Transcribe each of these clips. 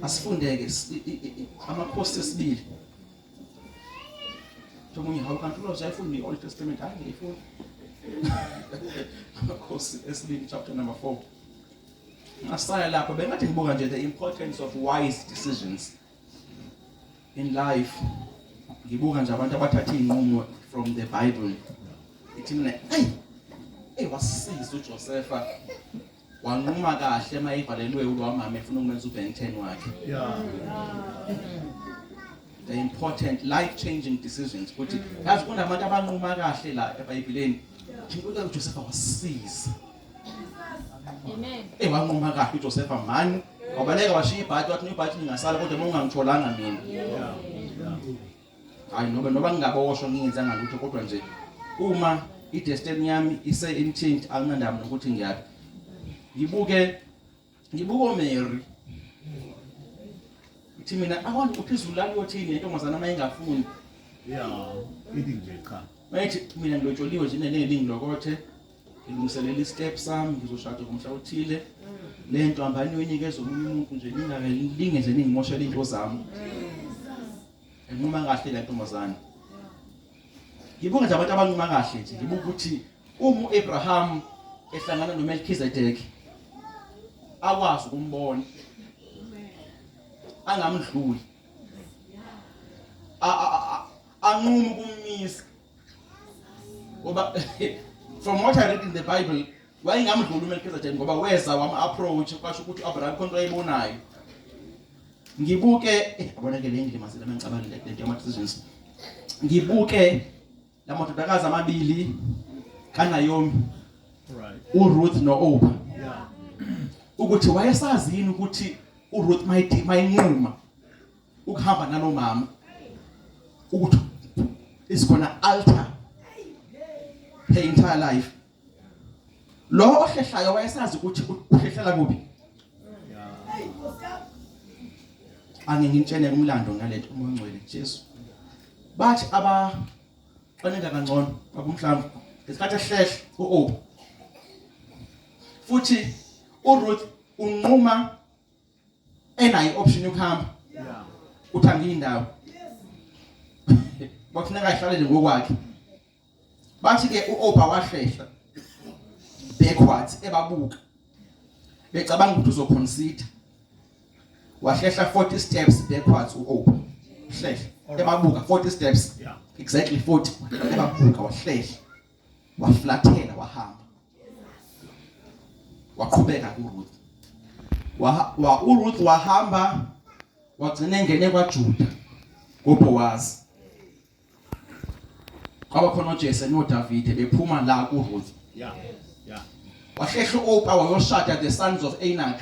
asifundeke amakhosi esibili omunye hawu kanti uloze ayifuni i-old testament hayi ngiyifuni amakhosi esibili chapter number four ngasaya lapho bengathi ngibuka nje the importance of wise decisions in life ngibuka nje abantu abathatha iy'nqumo from the bible ithi mina eyi eyi wasisiza ujosefa wanquma kahle uma evalelwe ulowa mama efuna ukumenza ubank ten wakhe the important life changing decisions ukuthi yazi kunabantu abanquma kahle la ebhayibhileni inkosi uJosefa wasiza Amen. Eh wanquma kahle uJosefa mani wabaleka washiya ibhadi wathi ibhadi lingasala kodwa uma ungangitholanga mina hayi noma noma ngingaboshwa ngingenzanga lutho kodwa nje uma idestiny yami ise intent anginandaba nokuthi ngiyaphi ngibuke ngibuke oMary uthi mina i want to phezulu la kuyothini intombazana uma ingafuni yeah ithi nje cha mayithi mina ngilotsholiwe nje neningi lokothe ngilungiselela istep sami ngizoshada ngomhla othile mm. lento hambani yoyinikeza omunye umuntu nje ningalinge nje ningimoshela into zami mm. enquma kahle le ntombazane ngibonga nje abantu abanquma kahle nje ngibuka ukuthi uma uAbraham ehlangana noMelchizedek akwazi ukumbona angamdluli anquma ukumisa ngoba from what i read in the bible wayengamdluli umelkizedek ngoba weza wama-approach kwasho ukuthi u-abraham khonto ayibonayo ngibuke eh, abonake le ndima selama ngicabangile le nto yama-decisions ngibuke la madodakazi amabili kanayomi uruth no-opa ukuthi wayesazi yini ukuthi uruth mayinquma ukuhamba nalomama ukuthi is gonna alter her entire life lo ohlehlayo wayesazi ukuthi uhlehlela kuphi angeke ngitshene umlando ngalento uma ngcwele Jesu bathi aba xaneka kangcono bakumhlamba ngesikhathi ehlehla uOb futhi uRuth unquma enayo ioption yokuhamba uthi angiyindawo kwakufuneka ahlale nje ngokwakhe bathi ke uOba wahlehla backwards ebabuka becabanga ukuthi uzoconsider wahlehla 40 steps backwards uOba hlehla ebabuka 40 steps exactly 40 ebabuka wahlehla waflathela wahamba waqhubeka kuRuth wa, wa uRuth wahamba wagcina engene kwaJuda kuBoaz kwaba khona uJese noDavide bephuma la kuRuth yeah yeah wahlehla uOpa wayoshada the sons of Anak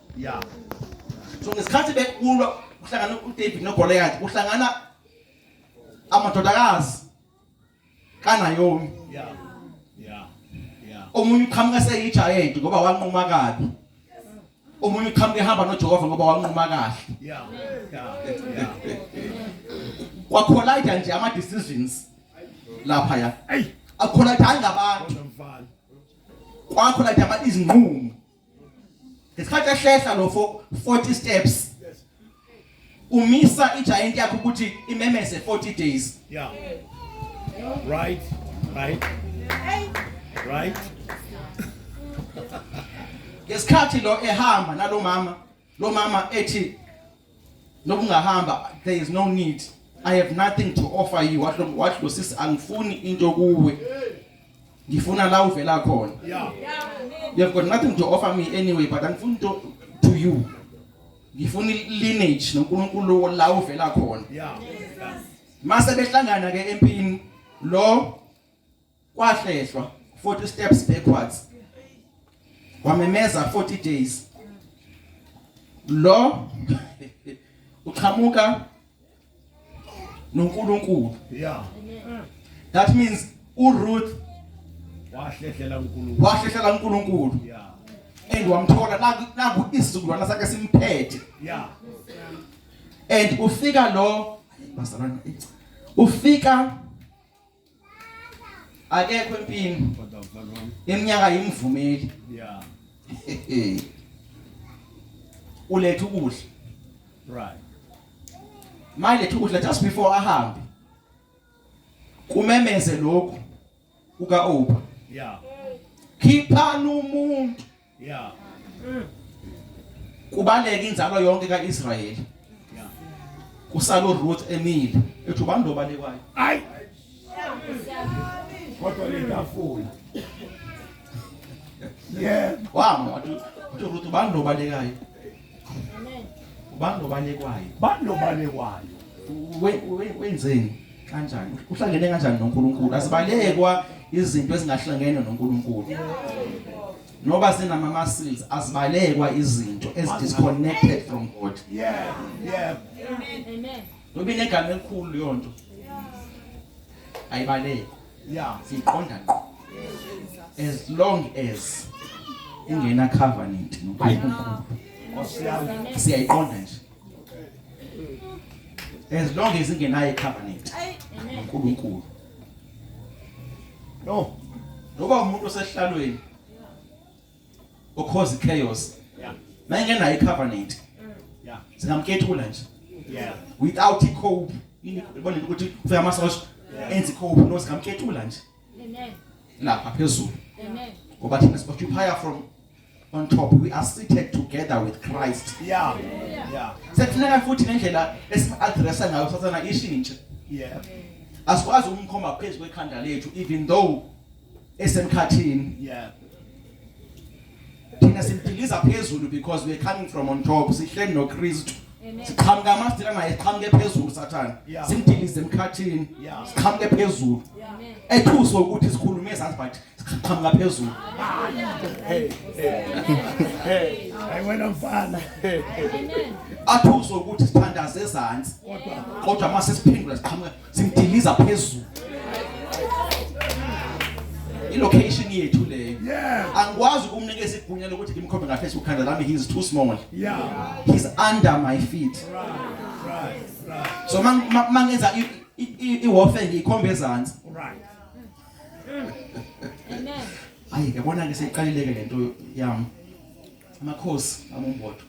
ya so ngesikhathi bekulwa kuhlangana uDavid noGoliath kuhlangana amadodakazi kaNaomi ya ya ya omunye uqhamuka seyigiant ngoba wanquma kabi omunye uqhamuka ehamba noJehova ngoba wanquma kahle ya ya kwa collide nje ama decisions lapha ya ayi akhona thanga abantu kwakho la daba izinqumo ngesikhathi ehlehla lo 40 steps umisa igiant yakho ukuthi imemeze 40 days yeah right right right ngesikhathi lo ehamba nalomama Lo mama ethi nokungahamba there is no need. I have nothing to offer you. Washo washo sisi angifuni into kuwe. Ngifuna la uvela khona. Yeah. You have got nothing to offer me anyway but angifuni to to you. Ngifuna lineage noNkulunkulu la uvela khona. Yeah. Mase behlangana ke empini lo kwahlehlwa 40 steps backwards wamemeza 40 days lo uqhamuka noNkulunkulu yeah that means uRuth wahlehlela uNkulunkulu wahlehlela uNkulunkulu yeah and wamthola naku naku isizukulwana sakhe simphethe yeah and ufika lo bazalwana ufika akekho empini iminyaka yimvumeli yeah uletha ukudla right manje letha ukudla just before ahambe kumemeze lokhu uka opa yeah khiphana umuntu Yeah. Mm. Kubaleka inzalo yonke kaIsrayeli. Yeah. Kusalo Ruth emile ethi ubani lo balekwayo. Hayi. Kodwa lentafula. Yeah. Wama wathi Ruth ubani lo balekayo. ubani lobalekwayo bani lobalekwayo wenzeni kanjani uhlangene kanjani noNkulunkulu asibalekwa izinto ezingahlangene noNkulunkulu noba sinama muscles asibalekwa izinto ezi disconnected from God yeah yeah amen amen noba inegama elikhulu leyo nto ayibalekwa yeah siqonda ngqo as long as ingena covenant noNkulunkulu siyayiqonda nje as long as ingenayo covenant noNkulunkulu no noba umuntu osehlalweni ukhozi chaos yeah mayengenayo icovenant mm. yeah singamkethula nje yeah without i cope yini ubona ukuthi ufika amasosha enzi cope no singamkethula nje amen lapha phezulu amen ngoba thina sioccupier from on top we are seated together with Christ yeah yeah sekufuneka futhi ngendlela esimadressa ngayo sathana ishintshe yeah asikwazi ukumkhomba phezulu kwekhanda lethu even though esemkhathini yeah thina simdiliza phezulu because we're coming from on top sihleli noKristu siqhamuka amasdila ngaye siqhamuke phezulu sathane simdilize emkhathini siqhamuke phezulu ethuswe ukuthi sikhulume ezansi but siqhamuka phezulu hey hey hayi wena mfana athuswe ukuthi sithandaze ezansi kodwa kodwa mase siphendula siqhamuka Simdiliza phezulu. ilocation yethu leyo angikwazi ukumnikeza igunya lokuthi ngimkhombe ngahle esikhanda lami he is too small yeah he's under my feet right right right so mangenza i warfare ngikhombe ezantsi right amen ayi yabona ke seyiqalileke lento yami Makhosi amombodo.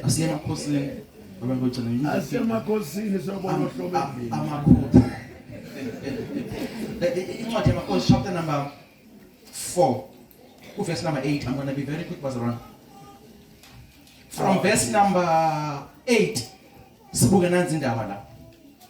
Asiye makhosini. Abantu bagcina yini? Asiye makhosini sobona uhlobo endlini. Amakhotha. Eh, eh, incwadi yamakhosi chapter number 4 kuverse number 8 i'm going to be very quick bazalwane from verse number 8 sibuke nanzi indaba la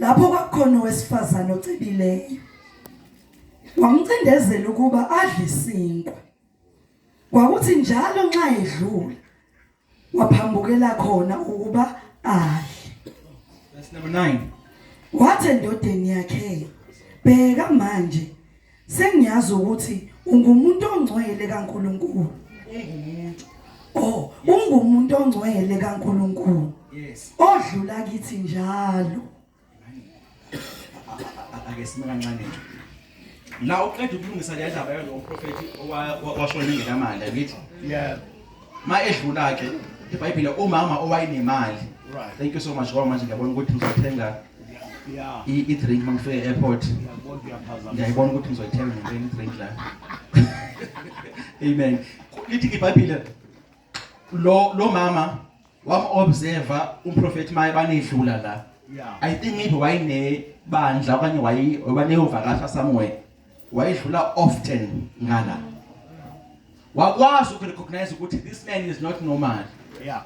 lapho kwakukhona owesifazane ocibileyo wamcindezela ukuba adle isinkwa kwakuthi njalo nxa edlula waphambukela khona ukuba adle verse number 9 wathi endodeni yakhe bheka manje Sengiyazi ukuthi ungumuntu ongcwele kaNkuluNkulu. Ungumuntu. Oh, ungumuntu ongcwele kaNkuluNkulu. Yes. Odlula kithi njalo. Ake sime kancane nje. La uqeda ukulungisa le ndaba yalo mprofeti owashona ingenamali ngithi. Yeah. Ma edlula ke iBhayibhile umama owayenemali. Right. Thank you so much ngoba manje ngiyabona ukuthi uzothenga i-drink uma ngifika e-airport ngiyayibona ukuthi ngizoyithenga ngempela i-drink la amen lithi ibhayibhile lo lo mama wam-observa umprofethi maye banedlula la i think maybe wayinebandla okanye wabaneyovakasha somewhere wayedlula often ngala wakwazi ukurecognize ukuthi this man is not normal yeah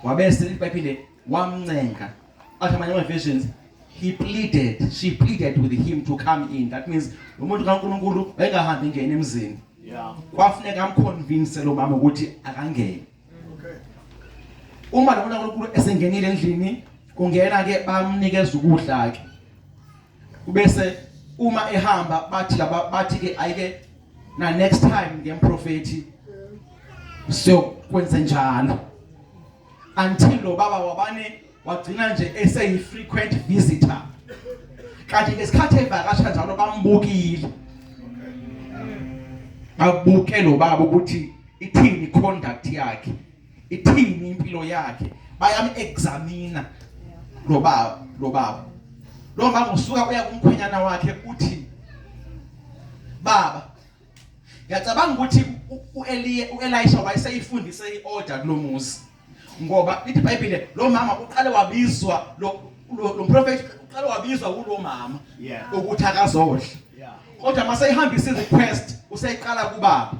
wabese ibhayibhile wamncenga athi amanye ama-versions he pleaded she pleaded with him to come in that means lo muntu kaNkulunkulu wayengahambi ngene emzini kwafuneka amconvince lo mama ukuthi akangene uma lo muntu kaNkulunkulu esengenile endlini kungena ke bamnikeza ukudla ke ubese uma ehamba bathi laba bathi ke ayike na next time ngemprofethi so kwenze njalo until lo baba wabane wagcina nje eseyi frequent visitor kanti ngesikhathi evakasha njalo bambukile babuke lo baba ukuthi ithini conduct yakhe ithini impilo yakhe bayam examina lo baba lo baba lo baba usuka uya kumkhwenyana wakhe uthi baba ngiyacabanga ukuthi uEliya uElisha wayeseyifundise iorder kulomuzi ngoba lithi iBhayibhile lo mama uqale wabizwa lo lo prophet uqale wabizwa kulo mama ukuthi akazodla kodwa mase ihambisa irequest useyiqala kubaba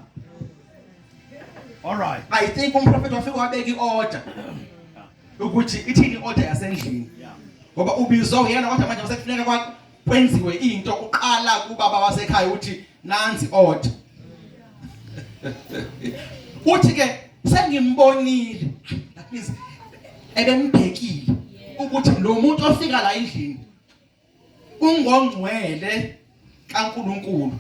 all right i think umprofeti wafika wabeka iorder ukuthi ithini order yasendlini ngoba ubizwa uyena wathi manje masekufuneka kwenziwe into kuqala kubaba wasekhaya uthi nanzi order uthi ke sengimbonile that means ebembhekile ukuthi lo muntu ofika la endlini ungongcwele kaNkuluNkulu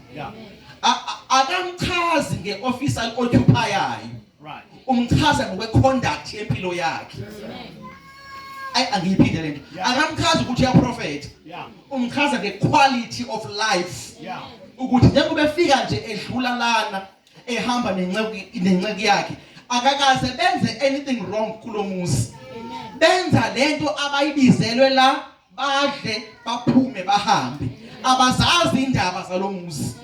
akamchazi ngeoffice aloccupayayo Right. Umchaza ngokwe conduct yempilo yakhe. Amen. ayi angiyiphinde lento akamchaza ukuthi uyaprofetha umchaza nge-quality of life ukuthi njengoba efika nje edlula lana ehamba nenceku yakhe akakaze benze anything wrong kulo muzi benza lento abayibizelwe la badle baphume bahambe abazazi indaba zalomuzi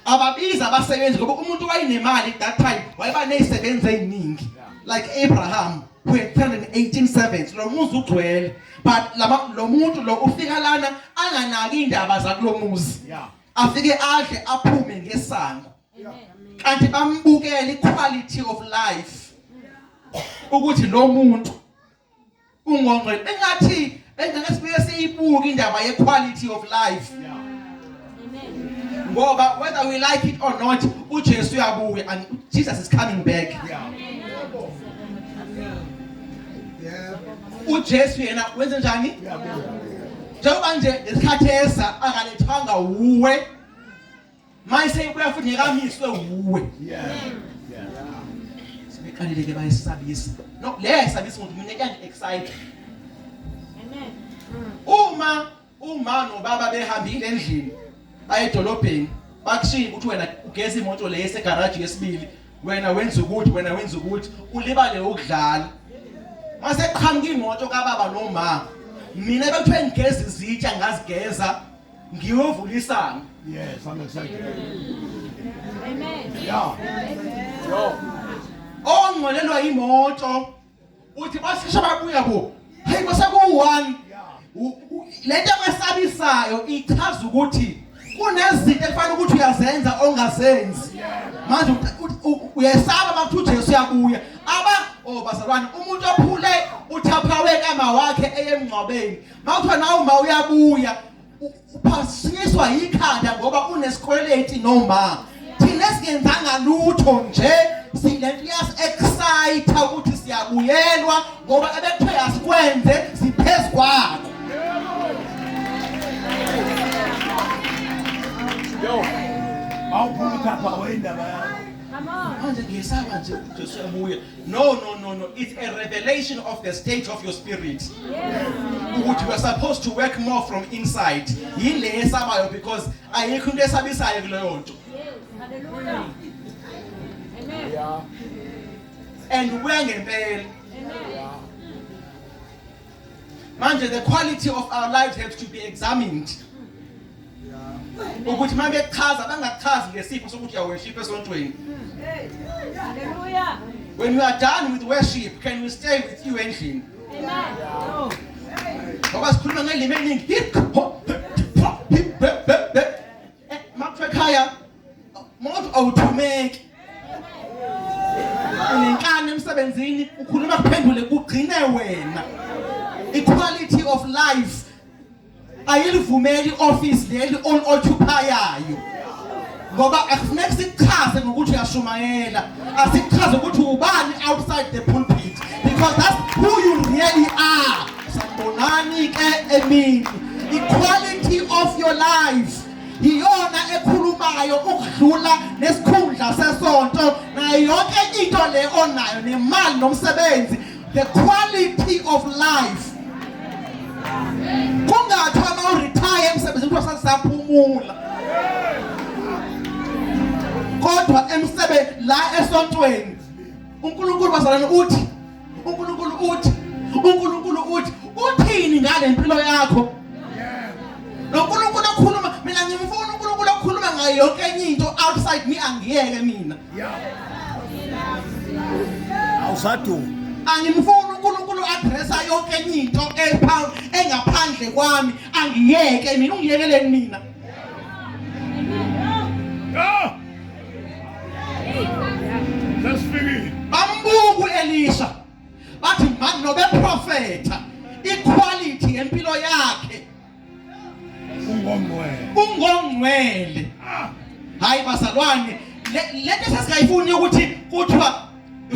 ababiza abasebenzi ngoba umuntu wayinemali that time wayeba nezisebenzi eziningi like Abraham who had 318 servants lo muzi ugcwele but lama lo muntu lo ufika lana anganaki indaba zakulomuzi afike adle aphume ngesango kanti bambukele iquality of life ukuthi lo muntu ungongqe engathi engeke sibuye siyibuke indaba ye quality of life ngoba whether we like it or not uJesu uyabuya and Jesus is coming back uJesu yena wenze njani njengoba nje lesikhathi esa akalethanga uwe Maye seyibuya futhi ngekamiswe wuwe. Yeah. Yeah. Sibeqalile ke bayisabisa. No, le yayisabisa umuntu mina kuyang excite. Amen. Uma uma nobaba behambile endlini baye edolobheni bakushiya ukuthi wena ugeza imoto le esegaraji yesibili wena wenza ukuthi wena wenza ukuthi ulibale ukudlala mase qhamuka imoto kababa nomama mina bekuthiwe ngigeza izitsha ngazigeza ngiyovula isango yes i'm excited amen yeah yo ongcwelelwa imoto uthi basisha babuya bo hey kwaseku one lento esabisayo ichaza ukuthi kunezinto ekufanele ukuthi uyazenza ongazenzi manje uyesaba bakuthi uJesu uyabuya aba oh bazalwane umuntu ophule uthaphawe kama wakhe eyemngcwabeni Mawuthiwa nawe uma uyabuya uphasinyiswa yikhanda ngoba unesikweleti noma thina singenzanga lutho nje silento yas excite ukuthi siyabuyelwa ngoba ebekuthe asikwenze siphezulu kwakho Yo. Mawuphuma ukhapha wendaba yakho. Manje ngiyesaba nje ukuthi usuyabuya. No, no, no, no. It's a revelation of the state of your spirit. Ukuthi you are supposed to work more from inside. Yile esabayo because ayikho into esabisayo kuleyo nto. Hallelujah. Amen. Yeah. And ubuya ngempela. Amen. manje the quality of our lives have to be examined ukuthi uma bechaza bangachazi ngesipho sokuthi yaweshipa esontweni when you are done with worship can we stay with you endlini ngoba sikhuluma ngelimi eliningi Eh, Makhaya mawuthi awuthumeki. Unenkani emsebenzini ukhuluma kuphendule kugcine wena. Equality of life ayilivumeli office leli on occupayayo. Ngoba akufuneki sikuchaze ngokuthi uyashumayela. Asikuchaze ukuthi ubani outside the pulpit because that's who you really are. Sanibonani ke emini. Equality of your life. Iyona ekhulumayo ukudlula nesikhundla sesonto nayo yonke into le onayo nemali nomsebenzi the quality of life kungathiwa uma uretire emsebenzini kuthiwa sasisaphumula kodwa emsebe la esontweni uNkulunkulu bazalwane uthi uNkulunkulu uthi uNkulunkulu uthi uthini ngale mpilo yakho lo Nkulunkulu okhuluma mina ngimfuna uNkulunkulu okhuluma ngayo yonke enye into outside me angiyeke mina awusaduma angimfuni uNkulunkulu addressa yonke enye into engaphandle kwami angiyeke mina ungiyekeleni mina bambuku elisha bathi mani nobeprofetha iquality yempilo yakhe ungongcwele ah. hayi bazalwane lento sasingayifuni ukuthi kuthiwa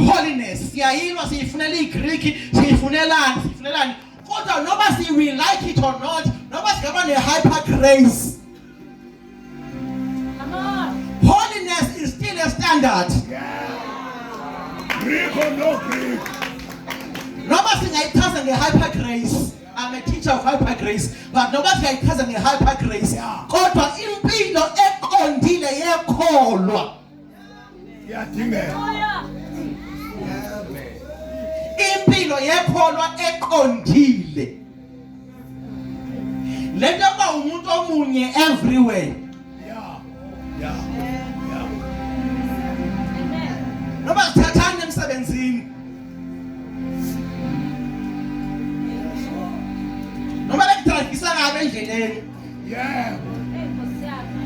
holiness siyayilwa siyifunela iGreek siyifunelani siyifunelani kodwa noma siyi like it or not noma singaba ne hyper grace Holiness is still a standard. Greek or no Greek. Noma singayichaza nge-hyper grace. I'm a teacher of hyper grace. But noma singayichaza nge-hyper grace. Kodwa impilo eqondile yekholwa. impilo yekholwa eqondile lento yokuba umuntu omunye everywhere noma sithathani emsebenzini noma bekudrayivisa kabi endleleni Yeah.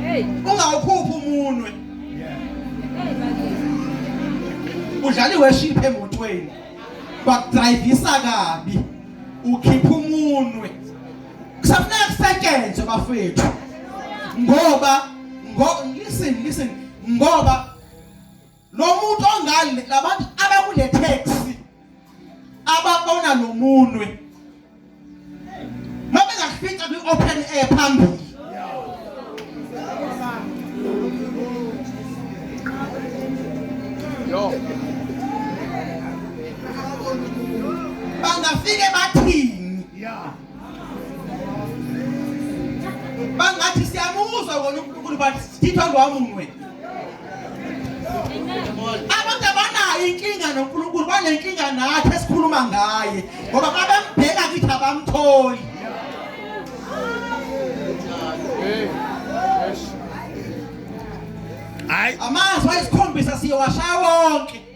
Hey. Ungawukhuphi umunwe. Yeah. Udlala iworship emotweni. Bakudrivisa kabi. Ukhipha umunwe. Kusafuneka kusetshenzwe bafethu. Ngoba ngo listen listen ngoba lo muntu ongali labantu abakule taxi ababona lo munwe noma ngakufica kwi open air phambili yo bangafike bathini yeah bangathi siyamuzwa wona uNkulunkulu but sithithwa lwamunwe abantu abanayo inkinga noNkulunkulu banenkinga nathi esikhuluma ngaye ngoba babembheka kithi abamtholi hayi amazwi ayisikhombisa siyowashaya wonke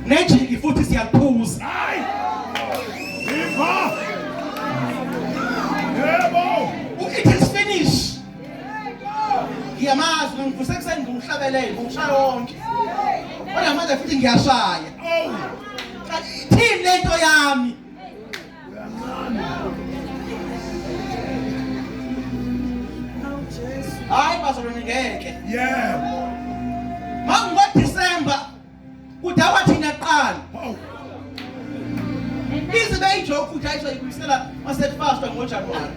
nejiki futhi siyakuphuza hayi imba yebo it is finished ngiyamazi ngivuse kuseni ngumhlabelele ngishaya wonke kodwa manje futhi ngiyashaya oh. thini lento yami hayi bazalwane ngeke yeah mangoDecember kudawa thina kuqala ize beyijoke ukuthi ayisho ibuyisela masefasta ngoJanuary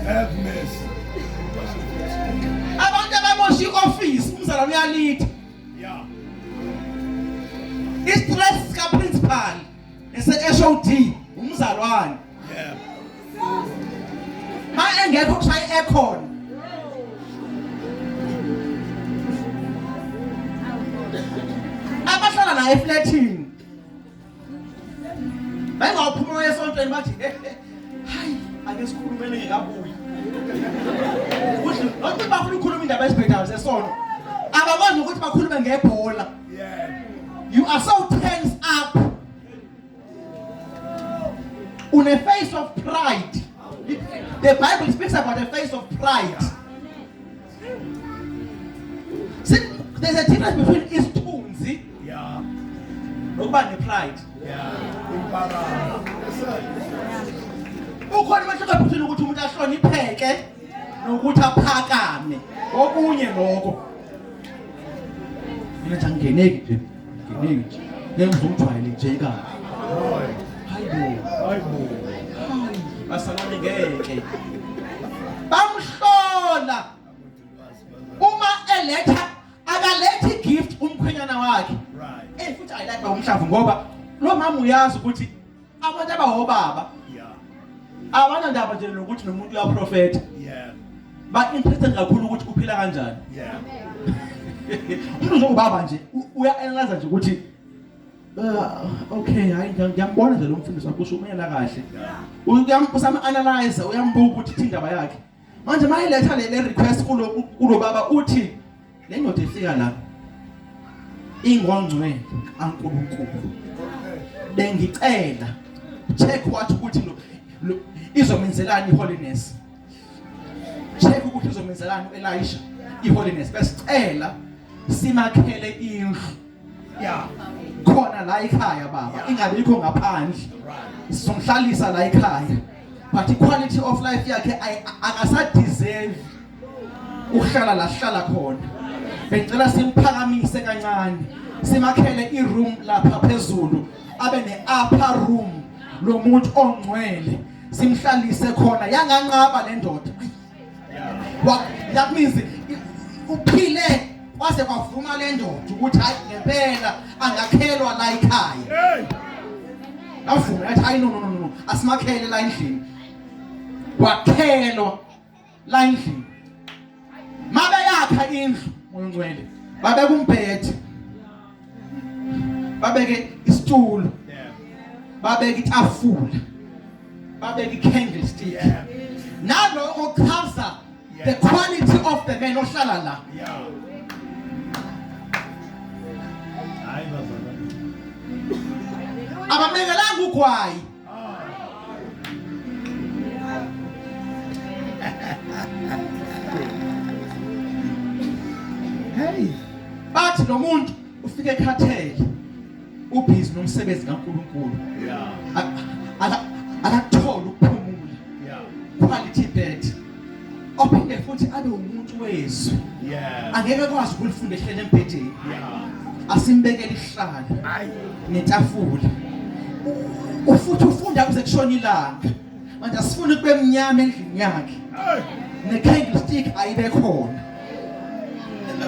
have mercy abantu abamosha i-office umzalwane uyalitha Yeah. Isiphulesi sika principal ese HOD umzalwane. Yeah. Ma engekho kushaya i-aircon. Abahlala naye eflatini. Bengawuphuma esontweni bathi hayi ake sikhulumele ngekabuyi. Ukuthi nokuthi bafuna ukukhuluma indaba esibhedayo sesonto. Abakwazi ukuthi bakhulume ngebhola. You are so tense up. On a face of pride. The Bible speaks about a face of pride. See, there's a difference between isithunzi yeah nokuba nepride yeah ukhona umehluko phakathi ukuthi umuntu ahlonipheke nokuthi aphakame okunye lokho mina nje angeneki nje Nginingi. Ngeke ngizomjwayele nje kanje. Hayibo. Hayibo. Basalwane ngeke. Bamhlola. Uma eletha akalethi gift umkhwenyana wakhe. Right. Eh futhi ayilapha umhlavu ngoba lo mama uyazi ukuthi Abantu abahobaba. Yeah. Abana ndaba nje nokuthi nomuntu uyaprofeta. Yeah. Ba interested kakhulu ukuthi uphila kanjani. Yeah. Umuntu uzobaba nje uya analyze nje ukuthi Uh, okay hayi ngiyambona nje lo mfundisi wakho ushumela kahle uyambusa ama analyze uyambuka ukuthi indaba yakhe manje mayiletha le request kulo kulo baba uthi le ndoda efika la ingongcwele ankulunkulu bengicela check what ukuthi lo izomenzelani iholiness check ukuthi izomenzelani uElisha iholiness besicela simakhele indlu ya khona la ekhaya baba ingabikho ngaphandle sizomhlalisa la ekhaya but iquality of life yakhe akasadeserve uhlala la hlala khona bengicela simphakamise kancane simakhele iroom lapha phezulu abe ne upper room lomuntu ongcwele simhlalise khona yanganqaba lendoda that means uphile waze kwavuma le ndoda ukuthi hayi ngempela angakhelwa la ikhaya avuma athi hayi no no no asimakhele la endlini wakhelwa la endlini mabe yakha indlu moya ongcwele babeka umbhethi babeke isitulo babeke itafula babeke i-candlestick naloko kuchaza the quality of the man ohlala la abamekelanga ugwayi Hey, bathi lo muntu ufike ekhathele ubhizi nomsebenzi kaNkuluNkulu. Yeah. Akakutholi ukuphumula. Yeah. Quality bed. ophinde futhi abe umuntu wezwi angeke akwazi ukulifunda ehlele embhedeni asimbekele ihlala netafula ufuthi ufunda kuze kushona ilanga manje asifuni kube mnyama endlini yakhe ne-candlestick ayibe khona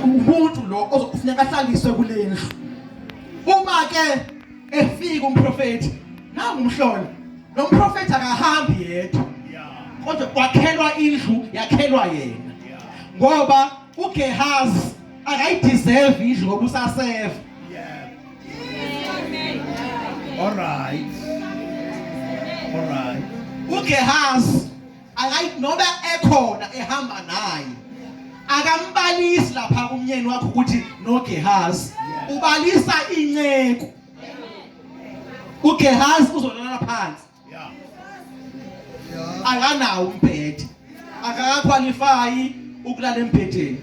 umuntu lo ozokufuneka ahlaliswe kule ndlu uma-ke efika umprofeti nangu umhlola lo mprofeti akahambi yedwa kodwa kwakhelwa indlu yakhelwa yena ngoba uGehazi akayideserve indlu ngoba usaseva all right all right uGehazi akayi noba ekhona ehamba naye akambalisi lapha kumnyeni wakho ukuthi noGehazi ubalisa inceku uGehazi uzolala phansi akanawo umbhede akakakhwalifayi ukulala embhedeni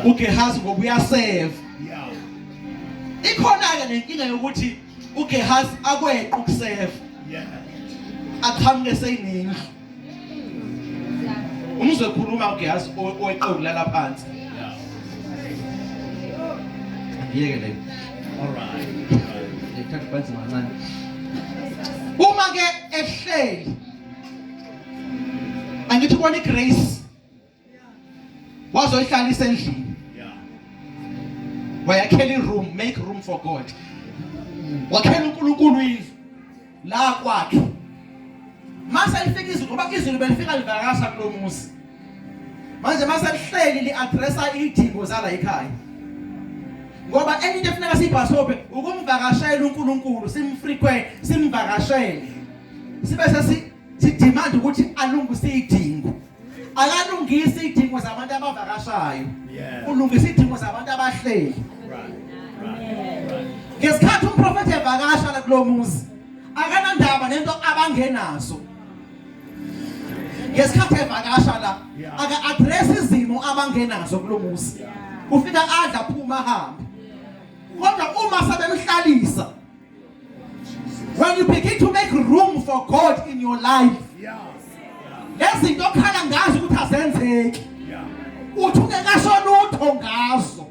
uGehazi ngoba uyaseva ikhona-ke nenkinga yokuthi uGehazi akweqa ukusefa aqhamuke seyinendlu umuzwe khuluma uGehazi oweqoku lala phansi yeke le alright ngithatha phansi mancane uma ke ehleli angithi kona igrace wazoyihlalisa endlini wayakhela iroom make room for god wakhela unkulunkulu indlu la kwakhe mase lifika izulu ngoba izulu belifika livakasha kulo muzi manje mase lihleli li-addressa iy'dingo zala ekhaya ngoba enye into efuneka siyibhasobe ukumvakashela unkulunkulu simfrequent simvakashele sibe sesi sidemand ukuthi alungise iy'dingo akalungisa idingo zabantu abavakashayo ulungisa idingo zabantu abahleli ngesikhathi umprofethi evakasha la kulo muzi akanandaba nento abangenazo ngesikhathi evakasha la aka address izimo abangenazo kulo muzi ufika adla phuma hambe kodwa uma sebemhlalisa When you begin to make room for God in your life. Lezinto okhala ngazo ukuthi azenzeki. Uthi ungekasho lutho ngazo.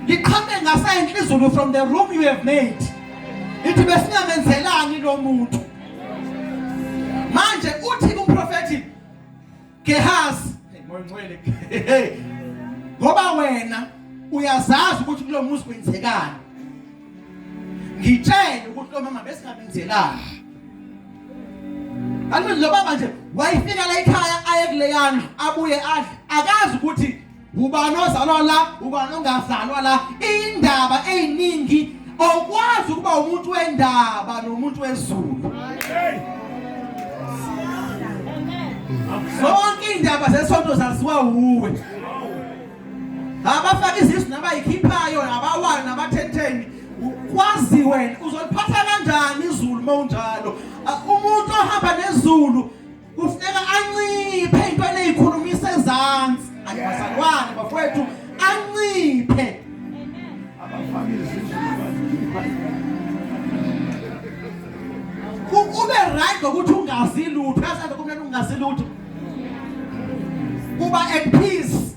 Liqhame ngasenhle izulu from the room you have made. Ithi besingamenzelani lo muntu. Manje uthi kumprofeti Gehazi moya ngcwele ngoba wena uyazazi ukuthi kulo muzi kwenzekani ngitshele ukuthi lo mama besingabenzelani Alimi lo baba nje wayifika la ekhaya aye kuleyana abuye adle akazi ukuthi ubani ozalwa la ubani ongazalwa la indaba eziningi okwazi ukuba umuntu wendaba nomuntu wezulu zonke indaba zesonto zaziwa uwe abafaka izisu nabayikhiphayo abawala nabathetheni kwazi wena uzoliphatha kanjani izulu uma unjalo umuntu ohamba nezulu kufuneka anciphe ey'ntweni ey'khulumisa ezansi anibazalwane bafowethu anciphe ube right ngokuthi ungazi lutho yazi kumele ungazi lutho kuba at peace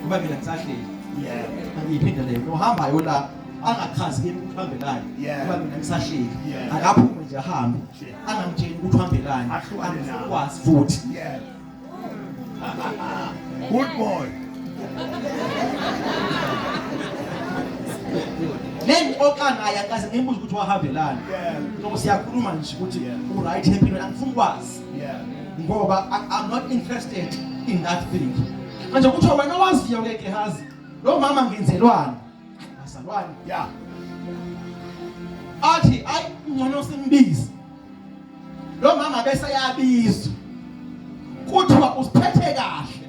ngoba mina ngisahleli yeah angiyiphinde leyo nohamba yona angachazi kimi ukuthi uhambelani ngoba mina ngisahleli akaphume nje ahambe angamtsheli ukuthi uhambelani ahlukane nawe kwazi futhi yeah good boy nengixoxa naye akaze ngimbuze ukuthi wahambelani noma siyakhuluma nje ukuthi uright empilweni angifuni kwazi ngoba I'm not interested in that thing manje kuthiwa wena waziyo ke Gehazi lo mama ngenzelwani ngazalwani ya athi ayi ngcono simbizi lo mama bese yabizwa kuthiwa usiphethe kahle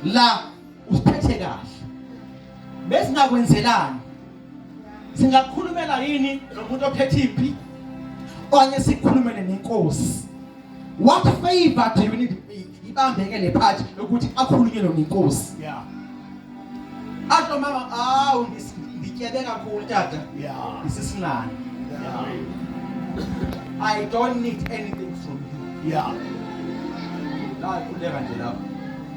la usiphethe kahle besingakwenzelani singakhulumela yini nomuntu ophethe impi okanye sikhulumele nenkosi what favor do you need ibambeke le part yokuthi akhulunywe lo nenkosi yeah asho mama awu ngityebe kakhulu tata yeah isisinani yeah i don't need anything from you yeah la kuleka nje lapho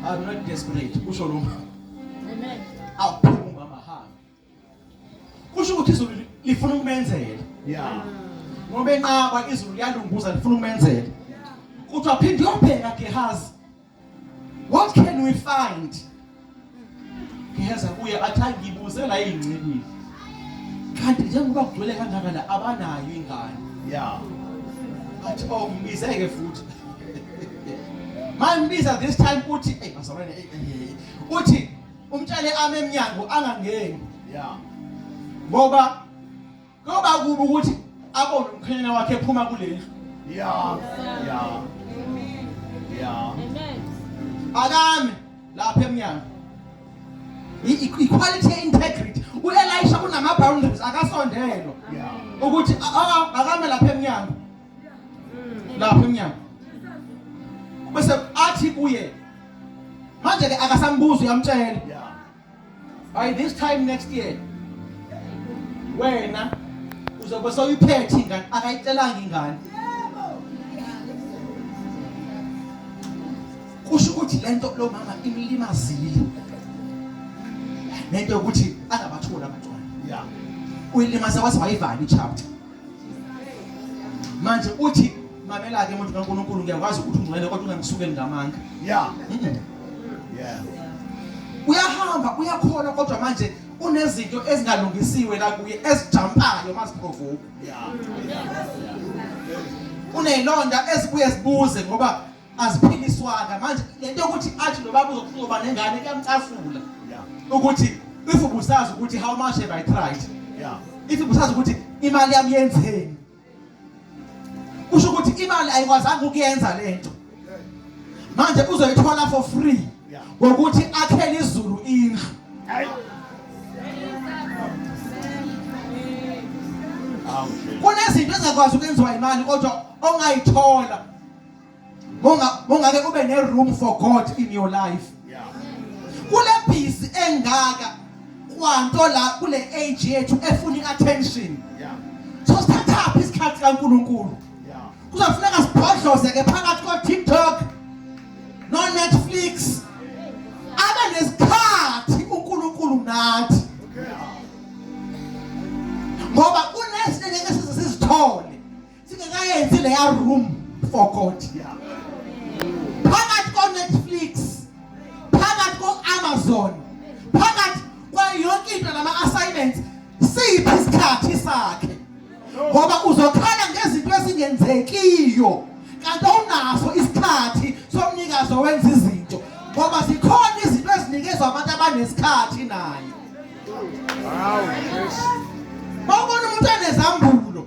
I'm not desperate kusho lo mama. Amen. Awuphuma umama hamba. Kusho ukuthi izulu lifuna ukumenzela. Yeah. Ngoba enqaba izulu liyalunguza lifuna ukumenzela. Uthi waphinde uyobheka Gehazi. What can we find? Gehazi uye athi ngibuze la ingcikile. kanti njengoba kugcwele kangaka la abanayo ingane ya athi oh ngibizeke futhi mangibiza this time uthi hey bazalwane eh, eh, eh, uthi umtshele ame emnyango angangeni ya ngoba ngoba kuba ukuthi abone umkhanyana wakhe ephuma kuleli ya ya ya amen akame lapha emnyango i-quality ye-integrity u-elisha kunama-boundaries akasondelwa ukuthi akame lapha emnyango lapha emnyango bese athi kuye manje-ke akasambuzi uyamtshela by this time next year wena uzobe soyiphethe ingane akayicelanga ingane kusho ukuthi lento lo mama imlimazile nento yokuthi angabatholi abantwana uyilimaza waze wayivala i-chapter manje uthi mamela-ke muntu kankulunkulu ngiyakwazi ukuthi ungcwele kodwa ungangisukeli ngamanga ya uyahamba uyakhona kodwa manje unezinto ezingalungisiwe la kuye ezijampayo maziprovoke uneyilonda ezibuye zibuze ngoba aziphiliswanga manje lento yokuthi athi nobaba uzokuzoba nengane kuyamcasula ukuthi if ubusazi ukuthi how much have i tried yeah if ubusazi ukuthi imali yami yenzeni kusho ukuthi imali ayikwazanga ukuyenza lento manje uzoyithola for free ngokuthi akhele izulu indlu kunezinto ezingakwazi ukwenziwa imali kodwa ongayithola mongake kube ne room for God in your life kule busy engaka kwanto la kule age yethu efuna iattention so sithathaphi isikhathi kaNkuluNkulu kuzofuneka sibhodloze ke phakathi ko TikTok no Netflix abe nesikhathi uNkulunkulu nathi ngoba kunezinto ngeke sizithole singekayenzi leya room for god phakathi konetflix phakathi ko-amazon phakathi kwayonke into nama-assignments siphi isikhathi sakhe ngoba uzokhala ngezinto ezingenzekiyo kanti awunaso isikhathi somnikazi owenza izinto ngoba zikhona izinto ezinikezwa abantu abanesikhathi naye Wow, yes. Bawubona umuntu anezambulo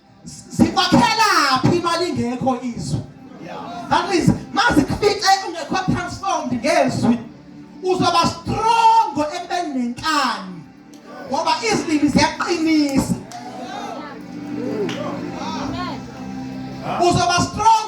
zikwakhelaphi imali ingekho izwi that means mazikufice ungekho transformed ngezwi uzoba strong ekubeni nenkani ngoba izilimi ziyaqinisa uzoba strong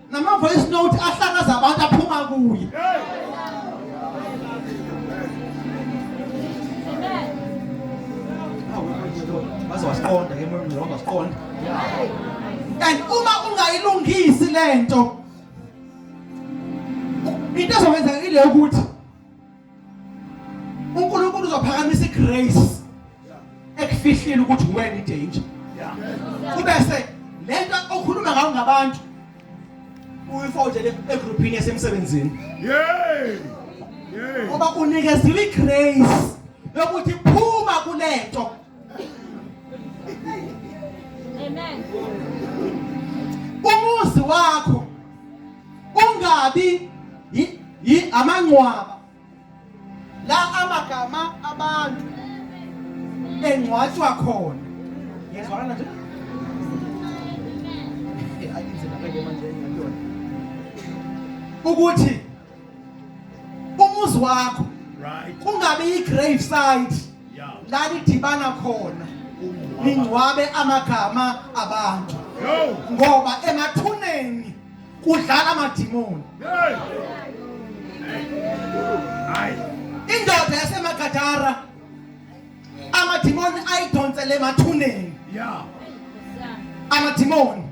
Nama voice note ahlakaza abantu aphuma kuye. Baze wasiqonda ke moya ngizonda wasiqonda. And uma ungayilungisi lento into ezokwenzeka ile ukuthi uNkulunkulu uzophakamisa igrace ekufihlile ukuthi wena idanger kubese lento okhuluma ngayo ngabantu uyifotshele egroupini yasemsebenzini yey ngoba unikeziwe igrace yokuthi phuma kulento Amen. Umuzi wakho ungabi yi amangcwaba la amagama abantu engcwatshwa khona. Ngiyazwana nje. Akinzela ke manje ngiyona. Ukuthi umuzi wakho kungabe i-grave site la nidibana khona ningcwabe amagama abantu ngoba emathuneni kudlala amadimoni indoda yasemagadara amadimoni ayidonsele emathuneni amadimoni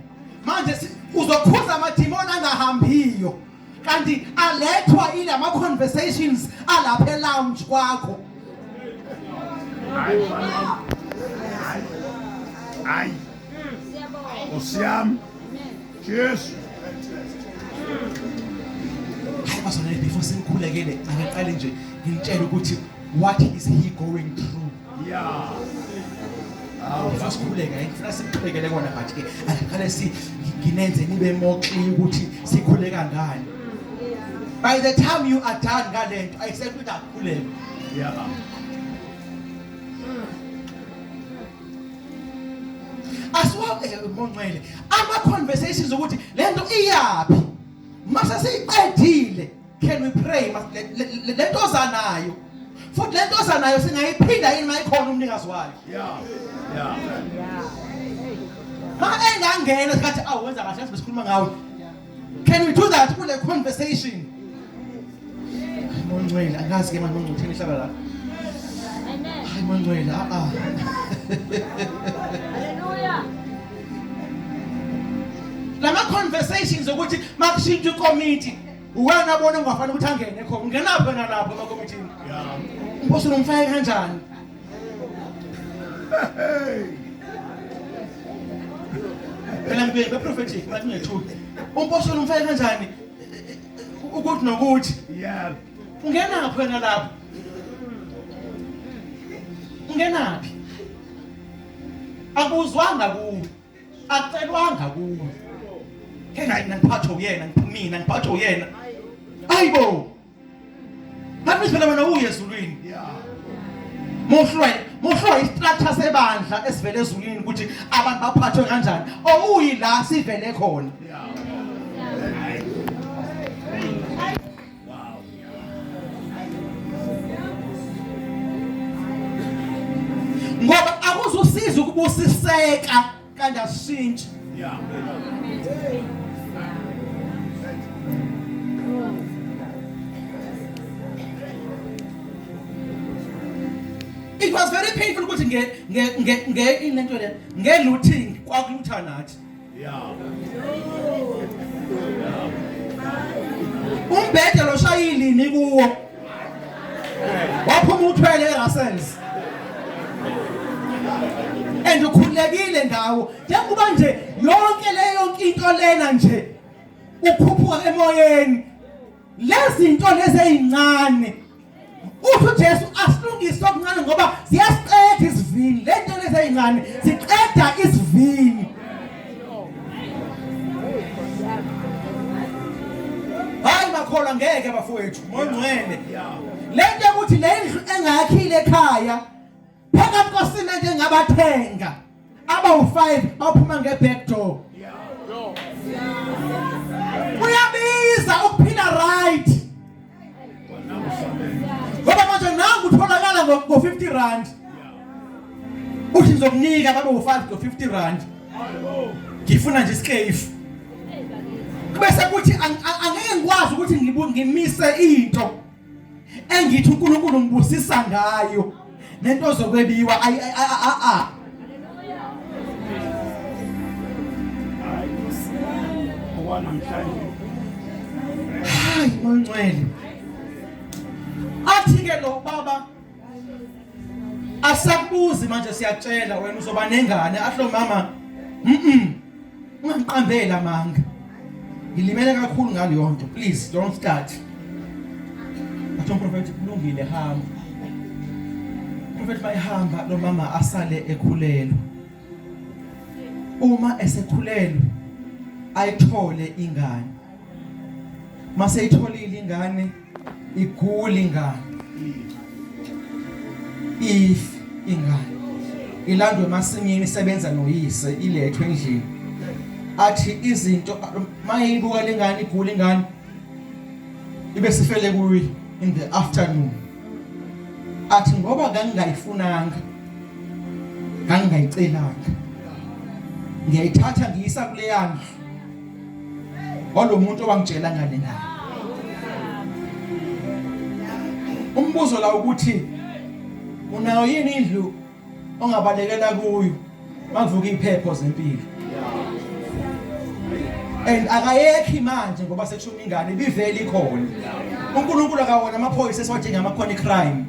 manje uzokhuza amadimoni angahambiyo kanti alethwa ile ama-conversations alapha elounge kwakho hayi hayi nkosi yami jesu hayi bazalwane before senikhulekele akaqale nje ngimtshele ukuthi what is he going through ya hawu sasikhuleka ngifuna sikuqhubekele kona but ke asiqale si nginenze nibe more clear ukuthi sikhuleka ngani by the time you are done ngalento ayisekho ukuthi akukhuleke ya asiwabe eh, monqele ama conversations ukuthi lento iyaphi mase siyiqedile can we pray le nto zanayo futhi le nto zanayo singayiphinda yini mayikhona umnikazi wayo yeah yeah ma engangena sikathi awu wenza kahle sikhuluma ngawe can we do that kule conversation mongcwele akazi ke manje mongcwele uthini ihlaba la amen hayi mongcwele a a haleluya lama conversations ukuthi makushintshe committee uwena abona ungafanele ukuthi angene khona ungenaphi wena lapho emakomitini umphostoli umfake kanjani phela ngibe prophetic ngathi ngethula umphostoli umfake kanjani ukuthi nokuthi yeah ungenaphi wena lapho ungenaphi akuzwanga kuwe akucelwanga kuwe hena ngiphathwe uyena ngiphumina ngiphathwe uyena ayibo ngathi phela wena uye ezulwini muhlwe muhlwe istrategy sebandla esivele ezulwini ukuthi abantu baphathwe kanjani owuyila sivele khona ngoba akuzosiza ukubusiseka kanti asishintshe it was very painful ukuthi nge nge nge nge into le nge looting kwakulutha nathi umbhede loshayilini kuwo waphuma uthwele erasels and ukhulekile ngawo njengoba nje yonke leyo into lena nje ukhuphuka emoyeni lezinto lezi ezincane uthi uJesu asilungise okuncane ngoba ziyasiqeda isivini le nto lezi ezincane siqeda isivini hayi bakholwa ngeke bafowethu mongcwele le nto yokuthi le ndlu engayakhile ekhaya phakathi kwasimende ngabathenga abawu-five bawuphuma nge-back door kuyabiza ukuphila right ngoba manje nangu utholakala ngo-fifty rand uthi ngizokunika babe wu-five ngo-fifty rand ngifuna nje isikefu bese kuthi angeke ngikwazi ukuthi ngimise into engithi uNkulunkulu ngibusisa ngayo nento zokwebiwa ayi a a a namhlanje hayi moncwele athi ke lo baba Asakubuzi manje siyatshela wena uzoba nengane asho mama mhm ungamqambela manga ngilimele kakhulu ngaleyo nto please don't start Atho prophet kulungile hamba Prophet bayihamba lo mama asale ekhulelwe Uma esekhulelwe ayithole ingane Mase itholile ingane iguli ingane if ingane ilandwe emasimini isebenza noyise ilethwe endlini athi izinto mayibuka lengane igula ingane ibe sifele kuyi in the afternoon athi ngoba kangingayifunanga kangingayicelanga ngiyayithatha ngiyisa kuleyana walomuntu owangitshela ngane naye umbuzo la ukuthi unayo yini indlu ongabalekela kuyo mavuka iphepho zempilo and akayekhi manje ngoba sekushona ingane ibivele ikhona uNkulunkulu akawona amaphoyisa esiwadinga amakhona crime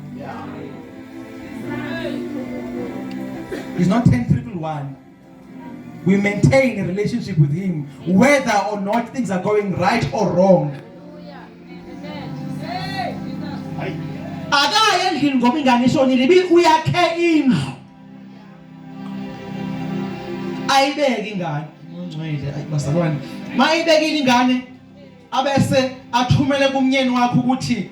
is not 10 triple 1 We maintain a relationship with him whether or not things are going right or wrong. Akaye endlini ngoba ingane ishonile ibi uyakhe indlu. Ayibeki ingane. Ungcwele ayibazalwane. Mayibekile ingane abese athumele kumnyeni wakho ukuthi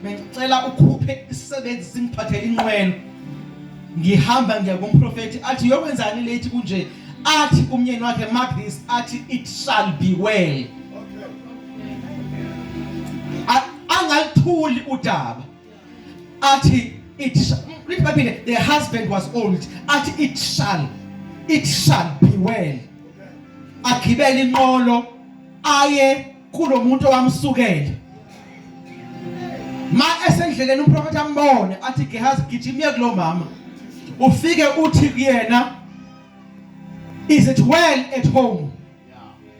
bengicela ukhuphe isisebenzi singiphathele inqwelo ngihamba ngiya kumprofeti athi yokwenzani late kunje athi kumnyeni wakhe mark this athi it shall be well angalithuli udaba athi it read baphinde the husband was old athi it shall it shall be well agibele inqolo aye kulomuntu owamsukela ma esendleleni umprofeti ambone athi Gehazi gijimye kulomama ufike uthi kuyena is it well at home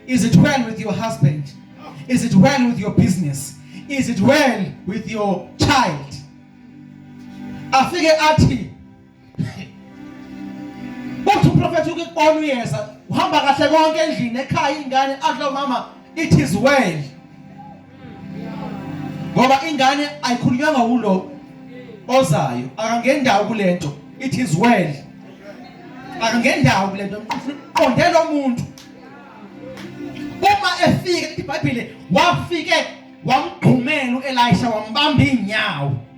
Is it well with your husband? Is it well with your business? Is it well with your child? Afike athi Uthi uprofeti ukubona uyeza uhamba kahle konke endlini ekhaya ingane adla umama it is well ngoba ingane ayikhulunywanga wulo ozayo akangendawo kulento it is well akangendawo kulento qonde lo muntu uma efika ibhayibhile wafike wamgqumela uElisha wambamba inyawo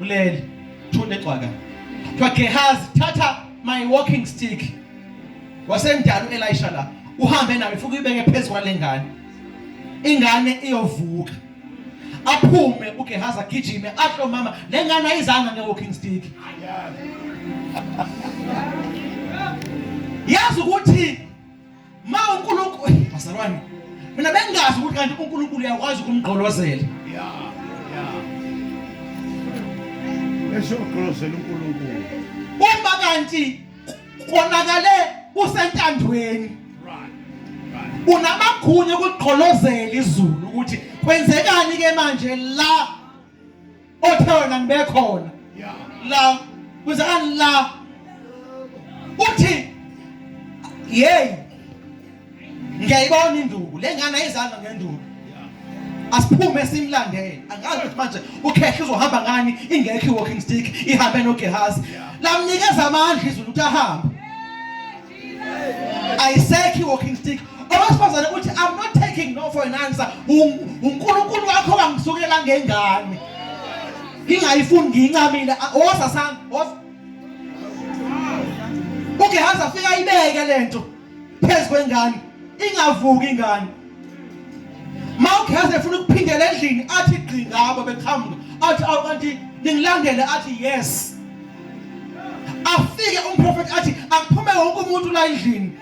ulele thunde gcwaka kuthiwa gehazi thatha my walking stick wasemdala u-elisha la uhambe nayo futhi uyibeke phezu kwale ngane ingane iyovuka aphume uGehazi agijime asho mama le ngane ayizanga nge-walking stick yazi ukuthi Ma uNkulunkulu bazalwane mina bengazi ukuthi kanti uNkulunkulu uyakwazi ukumgqolozela. Yeah. Yeah. Esho uqolozela uNkulunkulu. Uma kanti konakale usentandweni. Right. Right. Unamagunya ukuqolozela izulu ukuthi kwenzekani ke manje la othe wena ngibekhona la kuzani la uthi hey ngiyayibona induku lengane ayizanga ngenduku asiphume simlandele angazi ukuthi manje ukhehla uzohamba ngani ingekho i-walking stick ihambe nogehazi lamnikeza amandla izulu ukuthi ahambe ayisekhi walking stick owesifazane uthi i'm not taking no for an answer unkulunkulu wakho kangisukela ngengane ngingayifuni ngiyincamile woza sami woza ugehazi afika ayibeke le nto phezu kwengane ingavuki ingane mawugeza efuna ukuphindela endlini athi gqi ngabo beqhamuka athi awu kanti ningilandele athi yes afike umprofeti athi akuphume wonke umuntu la endlini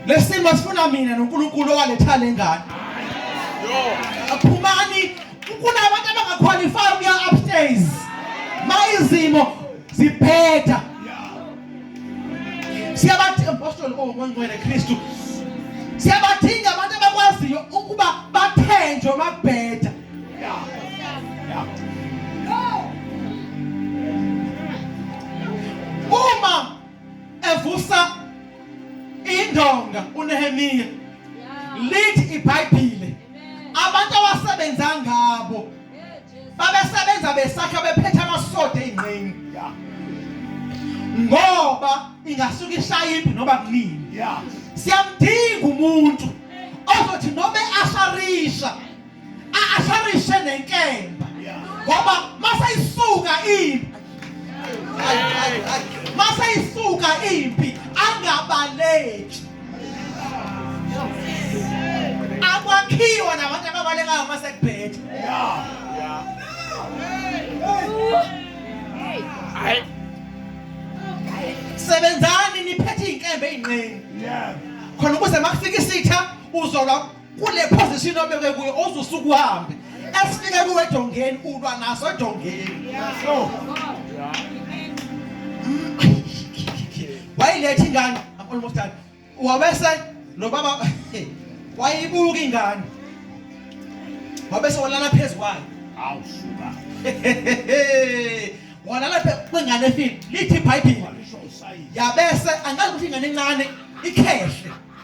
lesimo sifuna mina noNkulunkulu owaletha lengane aphumani kunabantu abangaqualify ukuya upstairs mayizimo ziphetha siyabadinga mpostoli ongongcwele kristu siyabadinga abantu abakwaziyo ukuba bathenjwe makubheda uma evusa indonga unehemiya lithi ibhayibhile abantu awasebenza ngabo babesebenza besakha bephethe amasoda ezinqeni yeah ngoba ingasuka ishaya impi noba kunini yeah siyamdinga umuntu ozothi noma asharisha asharishe nenkemba ngoba masayisuka impi maseyisuka impi angabaleki akwakhiwa nabantu ababalekayo uma sekubhethe sebenzani niphethe iy'nkembe ey'nqeni khona ukuze makufika isitha uzolwa kule position obekwe kuyo ozusuku uhambe esifike kuwe edongeni ulwa naso edongeni so wayilethi ingane i'm almost done wabese lo baba wayibuka ingane wabese walala phezu kwayo awu suka walala phezu kwengane efile lithi ibhayibhile yabese angazi ukuthi ingane encane ikhehle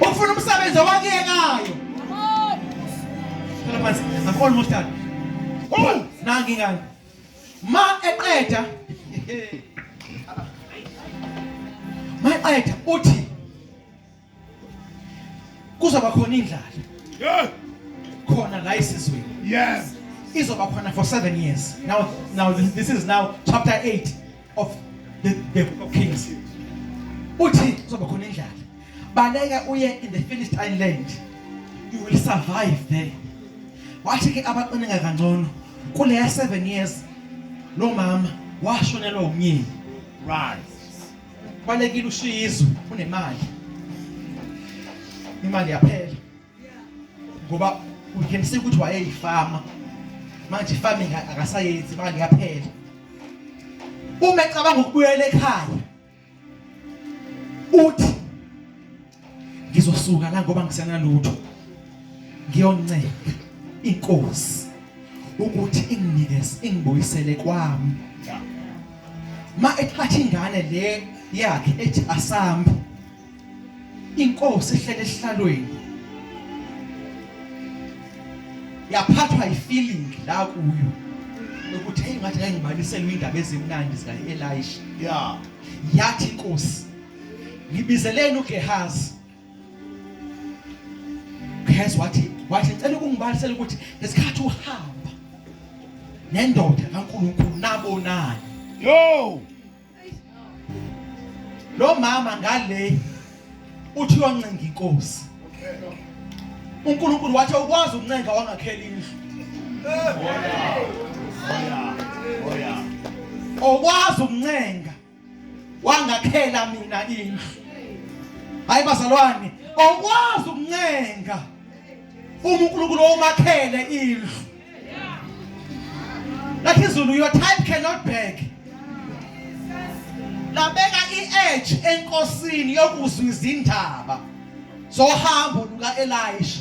Ufuna umsebenzi owakuyekayo. Phela phansi. I'm almost done. Oh, nangi ngani. Ma eqeda. Ma eqeda uthi kuzoba khona indlala. Yeah. Khona la isizweni. Yes. Izoba khona for 7 years. Now now this, this is now chapter 8. of the, the book of Kings uthi kuzoba khona indlala baleka uye in the Philistine land you will survive there wathi ke abaqineka kangcono kuleya 7 years lo mama washonelwa umyeni right balekile ushizwe unemali imali yaphela ngoba uhelisile ukuthi wayeyifama manje farming akasayenzi manje yaphela uma ecabanga ukubuyela ekhaya uthi ngizosuka la ngoba ngisenalutho ngiyoncela inkosi ukuthi inginikeze ingibuyisele kwami ma ethatha ingane le yakhe ethi asambe inkosi ehlele esihlalweni yaphathwa ifeeling la kuyo ukuthi hey ngathi ngeke ngibaliselwe indaba ezimnandi zika Elisha yeah yathi inkosi ngibizeleni uGehazi Gehazi wathi wathi ngicela ukungibalisela ukuthi ngesikhathi uhamba nendoda kaNkulunkulu nabonani yo lo mama ngale uthi wancenga inkosi uNkulunkulu wathi ukwazi ukuncenga wangakhela indlu okwazi ukuncenga wangakhela mina indlu hayi bazalwane okwazi ukuncenga uma uNkulunkulu omakhele indlu lakhe izulu your type cannot beg labeka i-edge enkosini yokuzwa izindaba zohambo luka-elisha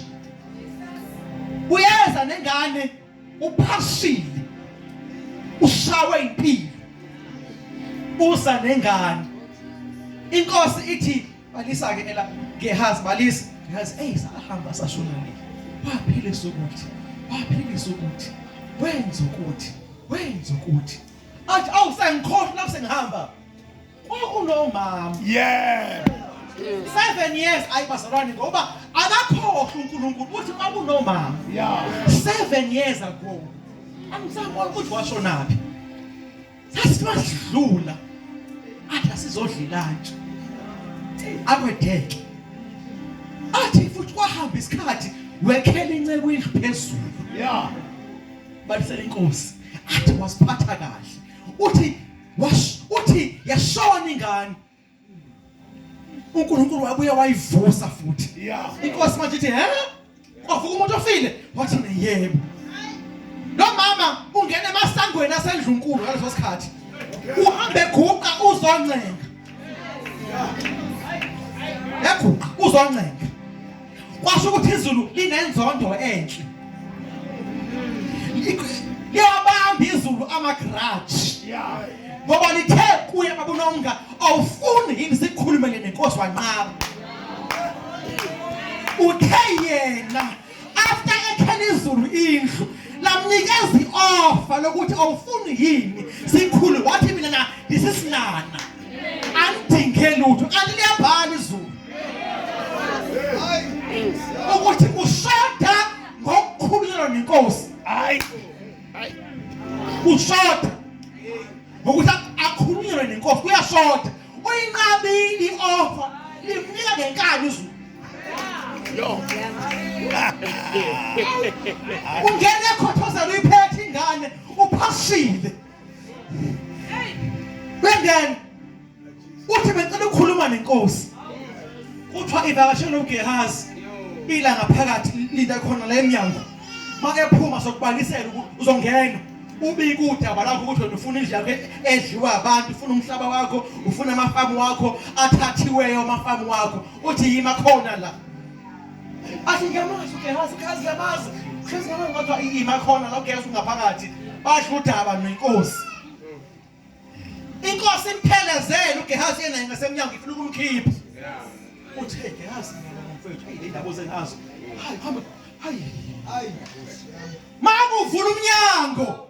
uyeza nengane uphashile ushawe impilo usa nengane inkosi ithi balisa ke ela Gehazi balisa Gehazi hey sahamba sashona nini waphilisa ukuthi waphilisa ukuthi wenza ukuthi wenza ukuthi athi awu sengikhohlwa lapho sengihamba kwakunomama yeah seven years ayi bazalwane ngoba akakhohlwa uNkulunkulu ukuthi kwakunomama yeah seven years ago angisabona ukuthi washonaphi Sasi masidlula athi asizodlilanje. Akwedeke. Athi futhi kwahamba isikhathi wekhela inceku indlu phezulu. Yeah. Balisela inkosi. Athi wasiphatha kahle. Uthi wash uthi yashona ingane uNkulunkulu wabuye wayivusa futhi inkosi manje ithi he kwavuka umuntu ofile wathi yebo lo mama ungena emasangweni asendlunkulu ngaleso sikhathi uhambe guqa uzoncenga yaguqa uzoncenga kwasho ukuthi izulu linenzondo enhle liyabamba izulu amagraji ngoba lithe kuye babunonga awufuni yini sikhulumele nenkosi wanqaba uthe yena after ekhela izulu indlu lamnikeza i-offer lokuthi awufuni yini sikhulu wathi mina na ndisisinana angidinge lutho kanti liyabhala izulu ukuthi kushoda ngokukhululwa nenkosi hayi kushoda ngokuthi akhulunyelwe nenkosi kuyashoda uyinqabile i-ofa limnika ngenkani izulu ungene ekhothozela uyiphethe ingane uphashile Bengani? Uthi becela ukukhuluma nenkosi. Kuthiwa ivakashe noGehazi. Ila ngaphakathi linda khona la emnyango. Makephuma sokubalisela uzongena. ubike udaba lakho ukuthi wena ufuna indlu yakho edliwa abantu ufuna umhlaba wakho ufuna amafamu wakho athathiweyo amafamu wakho uthi yima khona la athi ngiyamazi ugehazi kazi ngiyamazi kazi ngiyamazi kodwa ima khona la ugehazi ungaphakathi basho udaba nenkosi inkosi imphelezele ugehazi yena ngasemnyango ifuna ukumkhipha uthe gehazi mfethu hey labo zengazo hayi hamba hayi hayi makuvula umnyango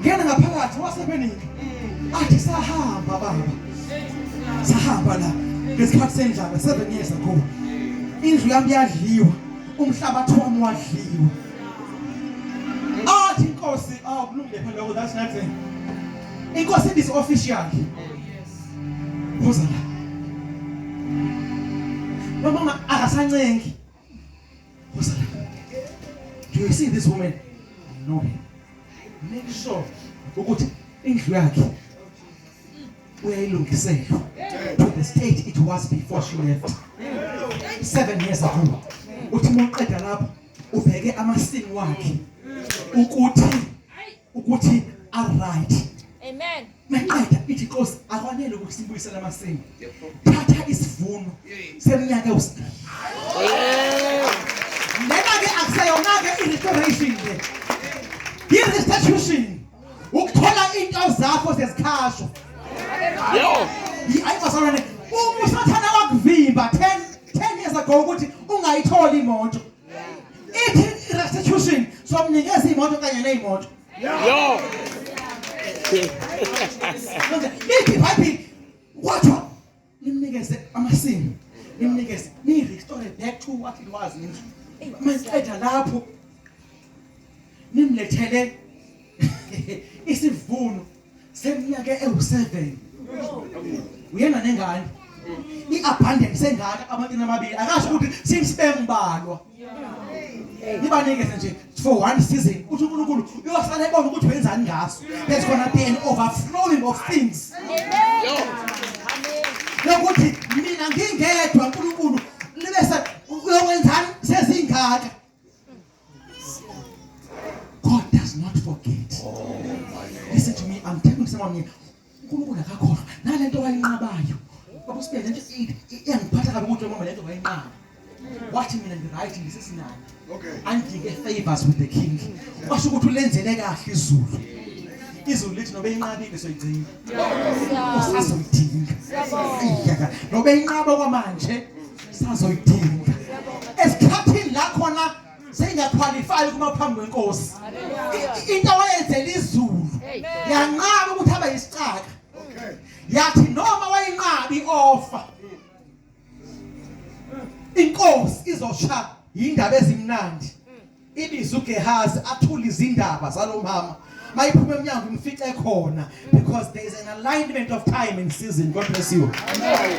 ngena ngaphakathi wasebeningi athi sahamba baba sahamba la ngesikhathi sendlala seven years ago indlu yami yadliwa umhlabathi wami wadliwa athi inkosi awukulungile phela lokho that's nothing inkosi ibisi official Rosa. Mamãe, arrasa a Do you see this woman? I know her. Make sure ukuthi indlu yakhe uyayilungisela to the state it was before she left. Seven years ago. Uthi uma uqeda lapho ubheke amasini wakhe ukuthi ukuthi are right. Amen. Maqeda ithi Nkosi akwanele ukuthi sibuyisele amasimi. Thatha isivuno seminyaka usiqala. Lena ke akuseyona ke i-restoration le. I-restitution. Ukuthola into zakho sezikhashwa. Yo. Ayi kwasalwane uma usathana wakuvimba 10 10 years ago ukuthi ungayitholi imoto. Ithi restitution somnikeza imoto kanye nezimoto. Yo. Lithi wathi watho nimnikeze amasimu nimnikeze ni restore back to what it was nje. Masiqeda lapho nimlethele isivuno seminyaka ewu-seven uyena nengane i-abundance engaka amatini amabili akasho ukuthi simsibembalwa ibanikeze nje for one season uthi unkulunkulu uyosala ebona ukuthi wenzani ngaso there's gonna be an overflowing of things lokuthi mina ngingedwa unkulunkulu libe uyowenzani sezingaka God does not forget. Oh Listen to me, I'm telling someone here, uNkulunkulu akakhohlwa nalento wayinqabayo. Baba sibele nje iyangiphatha kabi ukuthi mama lento wayinqaba. Wathi mina ngiright ngisesinayo. Okay. Andike favors with the king. Washo ukuthi ulenzele kahle izulu. izulu lithi nobe inqabile soyigcina usazoyidinga iyaka nobe inqaba kwamanje sazoyidinga esikhathini la khona seyingakhwalifaya ukuma phambi kwenkosi into awayenzela izulu yanqaba ukuthi abe yisicaka yathi noma wayinqabi ofa inkosi izosha indaba ezimnandi ibiza uGehazi athula izindaba zalomama mayiphuma emnyango imfice khona because there is an alignment of time and season god bless you Amen.